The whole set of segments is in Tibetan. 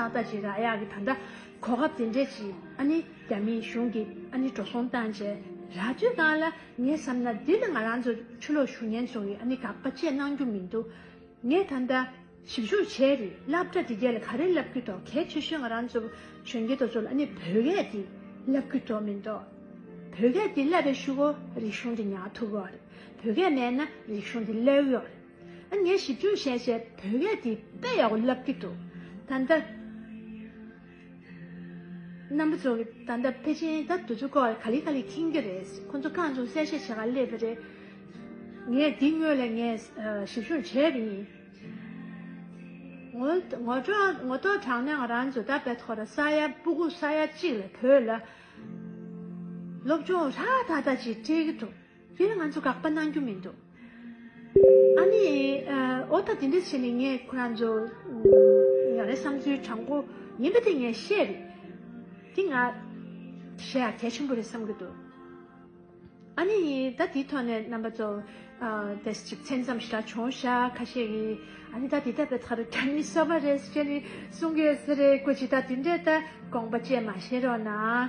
ད་ལྟ་ཅི་ར་ཡག་གི་ད་ལྟ་གོ་སྐབས་དེ་འདྲས་ཀྱི་ཨ་ནི་རྒྱ་མིའི་གཞུང་གི་ཨ་ནི་འགྲོ་སོང་བཏང་རྗེས་ར་དུས་གང་ལ་ངས་བསམ་ན་འདི་ནི་ང་རང་ཚོ་ཆུ་ལོག་ཞུ་ཉན་ཚོ་ཡི་ཨ་ནི་དགག་པ་བཅས་གནང་རྒྱུ་མི་འདུག་ངས་ད་ལྟ་ཞིབ་འཇུག་བྱས་རི་བསླབ་གྲ་དེ་རྒྱལ་ལ་ག་རེ་ལབ་ཀྱི་འདོག་གལ་ཆེ་ཤོས་ང་རང་ཚོ་གཞོན་སྐྱེས་དོ་ཚོ་ལ་ཨ་ནི་བོད་སྐད་དེ་བསླབ་ཀྱི་འདོག་མི་འདོག་བོད་སྐད་དེ་བསླབ་པའི་ཤུགས་ཨོ་རིག་གཞུང་དེ་ཉག་ཐུབ་ཨོ་རེད་བོད་སྐད་མེད་ན་རིག་གཞུང་དེ་བསླབ་ཨོ་རེད། ངས་ཞིབ་འཇུག་བྱས་བྱས་བོད་སྐད་འདི་དཔེ་ཡག་པོ་བསླབ་ཀྱི་འདུག་ད་ལྟ། རྣམ་པ་ཚོ་ད་ལྟ་པེ་ཅིན་དང་འདུ་ཚོ་སྐོར་ལ་ག་ལི་ག་ལི་ཁེངས་ཀྱི་རེད། ཁོ་ཚོ་གང་བྱུང་གསལ་བཤད་བྱེད་ཁར་སླེབས་པ་རེད། ངས་འདི་དངོས་ལས་ངས་ཞིབ་བཤུར་བྱས་པ་ཡིན། ངོ་ཐོག་དྲངས་ནས་ང་རང་ཚོ་ད་བལ་ཐོ་ར་ས་ཡ་སྤུ་གུ་ས་ཡ་གཅིག་ལ་བོད་ལ་སློབ་སྦྱོང་ཧྲ་ཐག་ཐག་ཅིག་སྤྲད་ཀྱི་འདུག། དེ་ལ་ང་ཚོ་དགག་པ་གནང་རྒྱུ་མི་འདུག། ཨ་ནི། ཨོ་ད་དེ་འདྲ་བྱས་ནས་ངས་ཁོ་རང་ཚོ། ང་རའི་བསམ་ཚུལ་དྲང་པོ་ཡིན་པ་དེ་ངས་བཤད་རེད། དེ་ང། བཤད་ཡ་གལ་ཆེན་པོ་རེད་བསམ་གྱི་འདུག། ཨ་ནི། ད་དེའི་ཐོག་ནས་རྣམ་པ་ཚོ། དེ་གཅིག་མཚན་ཙམ་ཞིག་ལ་བྱུང་ཤག་ཁ་ཤས་ཀྱིས་ཨ་ནི་ད་དེ་ལྟ་བུའི་ཐག་རིང་ཁྱོད་ནི་གསོ་བ་རེད་ཟེར་ནས་གསུང་གི་ཡོད་ས་རེད་ཁོ་ཅི་ད་དེ་འདྲའི་ལྟ་དགོངས་པ་བཅས་མ་བྱེད་རོགས་གནང།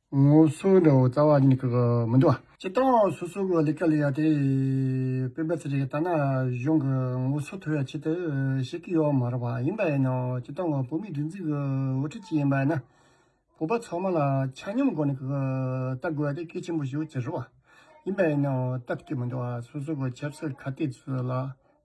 ངོ་སོའི་འདྲ་བོ་རྩ་བ་ཉིད་ཀྱི་མི་འདུ་བ། ཇི་ལྟ་བ་སོ་སོ་གི་ལས་ཀ་ལས་ཡ་དེ། སྤེན་པ་ཚེ་རིང་ལྟ་ན་གཞུང་གི་ངོ་སོ་དོར་བའི་ཆེད་དུ་བཤད་ཀྱི་ཡོད་མ་རེད་བ། ཡིན་པ་ཡིན་ནའོ་ཇི་ལྟ་བ་བོད་མིའི་སྒྲིག་འཛུགས་ཀྱི་འོས་འཕྲིན་ཅིག་ཡིན་པ་ཡིན་ན། བོད་པ་ཚང་མ་ལ་ཆ་སྙོམས་སྒོ་ནས་ཀྱི་ལྟ་དགོས་བ་དེ་གལ་ཆེན་པོ་ཞིག་ཟེར་བ། ཡིན་པ་ཡིན་ནའོ་ལྟ་ཀྱི་མི་འདུ་བ་སོ་སོ་གི་ཆབ་སྲིད་ཁ་གཏད་ཚོད་ལ།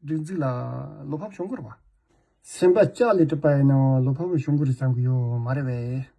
སྒྲིག་འཛུགས་ལ་བློ་ཕམ་བྱུང་གི་རེད་བ། སེམས་པ་ལྕགས་ལས་གྲུབ་པ་ཡིན་ན་བློ་ཕམ་བྱུང་གི་རེད་བསམ་གྱི་ཡོད་མ་རེད་བས།